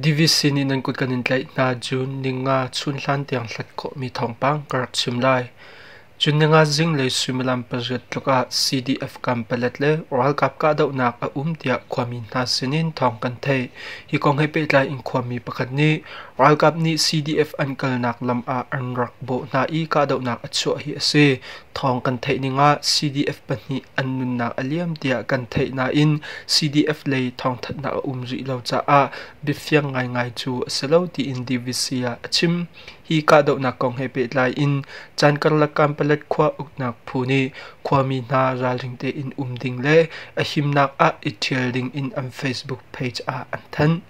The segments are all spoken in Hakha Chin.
Divisi nih nan kut kan in tlaih hna June ni nga chun hlan tiang hlat khawhmi thawngpang ka rak chim lai. June ni nga zinglei suimilam pariat tluk ah CDF kampalet le ralkap kahdohnak a um tiah khuami hna sinin thawng kan theih. Hi kong he pehtlai in khuami pakhat nih Ralkap nih CDF an kalnak lam ah an rak bawh hna i kahdohnak a chuah hi a si. Thawng kan theih ning ah CDF pahnih an nunnak a liam tiah kan theih nain CDF lei thawngthanhnak a um rih lo caah biafiang ngaingai cu a si lo tiin DVC ah a chim. Hi kahdohnak kong he pehtlai in caan karlak Kanpalet khua uknak phu nih khuami hna ralring tein um ding le a himnak ah i ṭhial ding in an Facebook page ah an thanh.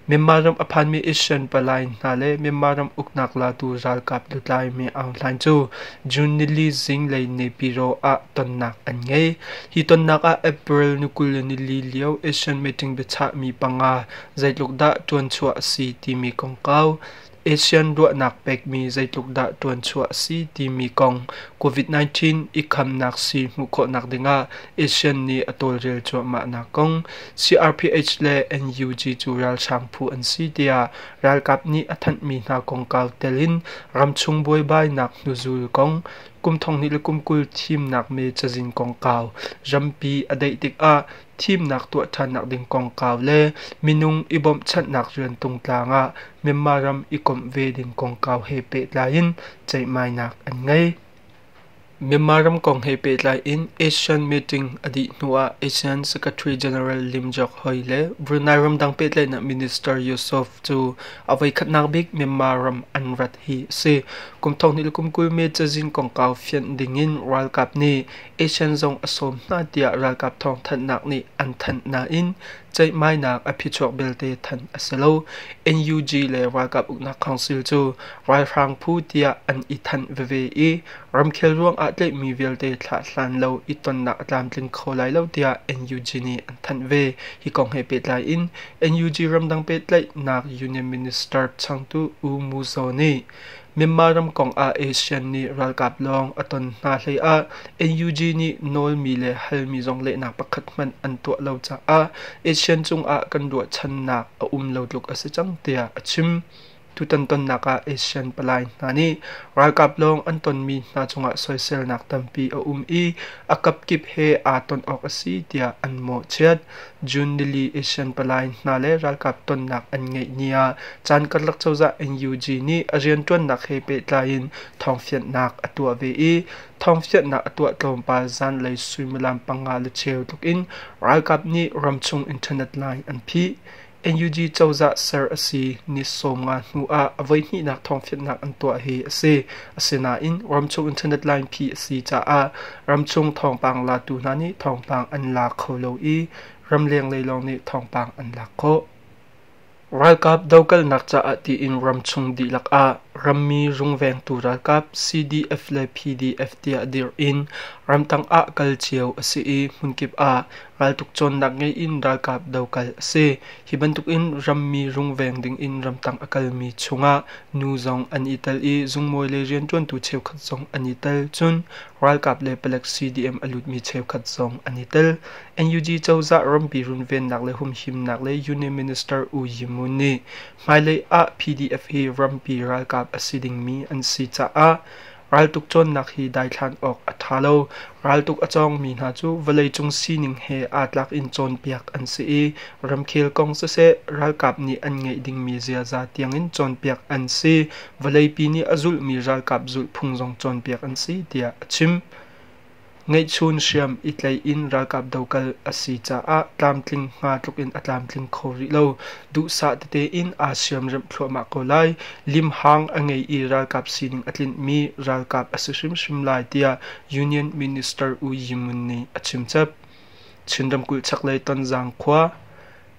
Myanmar ram a phanmi Asian palai hna le Myanmar ram uknak latu ralkap lutlaimi Aung Hlaing cu June nili zinglei Nepiro ah tonnak an ngei. Hi tonnak ah April ni kul le nili lio Asian meeting biachahmi panga zeitluk dah ṭuan chuah a si timi kongkau ASEAN ruahnak pekmi zeitluk dah ṭuanchuah a si timi kong COVID-19 i khamnak sii hmuh khawhnak dingah ASEAN nih a tawlrel cuahmahnak kong CRPH le NUG cu ralhrang phu an si tiah ralkap nih a thanhmi hna kongkau telin ramchung buaibainak hnuzul kong kum thonghnih le kum kul thimnak me cazin kongkau rampi a daih tikah thimnak tuah ṭhannak ding kongkau le minung i bawmhchanhnak rian tungtlang ah Myanmar ram i komh ve ding kongkau he pehtlai in ceihmainak an ngei. Myanmar ram kong he pehtlai in ASEAN meeting a dih hnu ah ASEAN Secretary General Lim Jock Hoy le Brunei ramdang pehtlaihnak Minister Yusof cu a voikhatnak bik Myanmar ram an rat hi a si. Kum thonghnih le kum kul me cazin kongkau fianh ding in ralkap nih Asian zong a sawm hna tiah ralkap thawngthanhnak nih an thanh nain ceihmainak a phichuak belte thanh a si lo. NUG le Ralkap Uknak Council cu ralhrang phu tiah an i thanh veve i ramkhel ruangah tleihmi vialte thlah hlan lo i tonnak a tlamtling kho lai lo tiah NUG nih an thanh ve. Hi kong he pehtlai in NUG ramdang pehtlaihnak union minister changtu U Mu Zaw nih Myanmar ram kong ah ASEAN nih ralkap lawng a ton hna hlei ah NUG nih nawlmi le halmi zong lehnak pakhat hmanh an tuah lo caah ASEAN cungah kan ruahchannak a um lo tluk a si cang tiah a chim. Tutan tonnak ah ASEAN palai hna nih ralkap lawng an tonmi hna cungah soiselnak tampi a um i a kapkip he aa ton awk a si tiah an mawhchiat. June nili Asian palai hna le ralkap tonnak an ngeih ni ah caan karlak cozah NUG nih a rianṭuannak he pehtlai in thawngfianhnak a tuah ve i thawngfianhnak a tuah tlawmpal zanlei suimilam panga le cheu tluk in ralkap nih ramchung internet lai an phih. NUG cozah ser a si ni sawm nga hnu ah a voihnihnak thawngfianhnak an tuah hi a si. Asinain ramchung internet lainphi a si caah ramchung thawngpang latu hna nih thawngpang an la kho lo i ramlenglei lawng nih thawngpang an lak khawh. Ralkap dokalnak caah tiin ramchung dihlak ah rammi rungvengtu ralkap CDF le PDF tiah dirh in ramtang ah kal cio a si i hmunkip ah Raltuk cawnnak ngei in ralkap dokal a si. Hi bantukin rammi rungveng dingin ramtang a kalmi chungah nu zong an i tel i zungmawi le rianṭuantu cheukhat zong an i tel. Cun ralkap le palek CDM a lutmi cheukhat zong an i tel. NUG cozah rampi runvennak le humhimnak le Union Minister U Yi Mun nih hmailei ah PDF hi rampi ralkap a si dingmi an si caah Raltuk cawnnak hi daithlan awk a ṭha lo. Raltuk a cawngmi hna cu vawleicung sining he aa tlak in cawnpiak an si i ramkhel kong siseh ralkap nih an ngeih dingmi ziaza tiangin cawnpiak an si. Vawleipi nih a zulhmi ralkap zulhphung zong cawnpiak an si tiah a chim. Ngeihchun hriam i tlei in ralkap dokal a si caah tlamtling hnga tluk in a tlamtling kho rih lo. Duhsah tete in aa siamremh thluahmah ko lai. Limhang a ngei i ralkap sining a tlinhmi ralkap a si hrimhrim lai tiah Union Minister U Yi Mun nih a chimchap. Chin ramkulh chaklei Tonzang khua,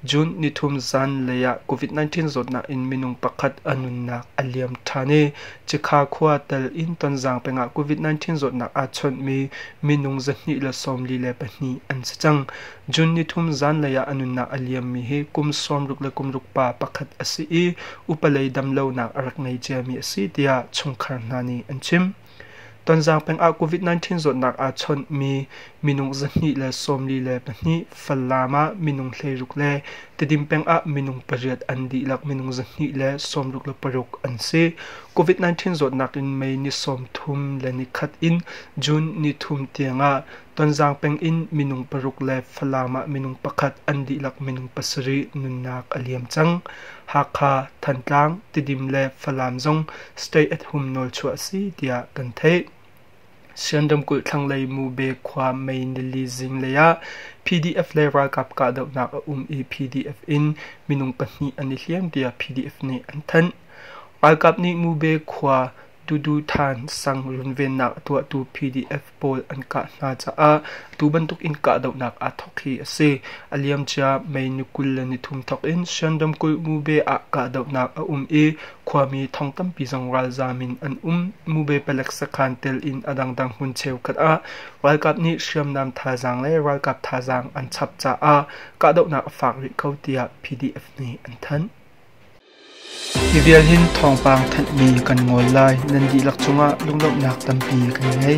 June nithum zanlei ah COVID-19 zawtnak in minung pakhat a nunnak a liam ṭhan i Cikha khua tel in Tonzang peng ah COVID-19 zawtnak aa chawnhmi minung zahnih le sawmli le pahnih an si cang. June nithum zanlei ah a nunnak a liammi hi kum sawmruk le kumruk pa pakhat a si i upalei damlonak a rak ngei ciami a si tiah chungkhar hna nih an chim. Tonzang peng ah COVID-19 zawtnak aa chawnhmi minung zahnih le sawmli le pahnih, Falam ah minung hleiruk le Tedim peng ah minung pariat an dihlak minung zahnih le sawmruk le paruk an si. COVID-19 zawtnak in May ni sawmthum le ni khat in June ni thum tiang ah Tonzang peng in minung paruk le Falam ah minung pakhat an dihlak minung pasarih nunnak a liam cang. Hakha, Thantlang, Tidim le Falam zong state at-hum nawlchuah a si tiah kan theih. Sian ramkulh thlanglei Mube khua Mei Nili zinglei ah PDF le ralkap kahdohnak a um i PDF in minung pahnih an i hliam tiah PDF nih an thanh. Ralkap nih Mube khua Tuduhthan sang runvennak a tuahtu PDF pawl an kah hna caah tu bantuk in kahdohnak aa thawk hi a si. A liam cia May ni kul le nithum thawk in Shan ramkulh Mube ah kahdohnak a um i khuami thong tampi zong ralzaam in an um. Mube palek sakhan tel in a dangdang hmun cheukhat ah ralkap nih hriamnam thazaang le ralkap thazaang an chap caah kahdohnak a faak rih ko tiah PDF nih an thanh. Mivial hin thawngpang thanhmi kan ngol lai nan dihlak cungah lunglawmhnak tampi kan ngei.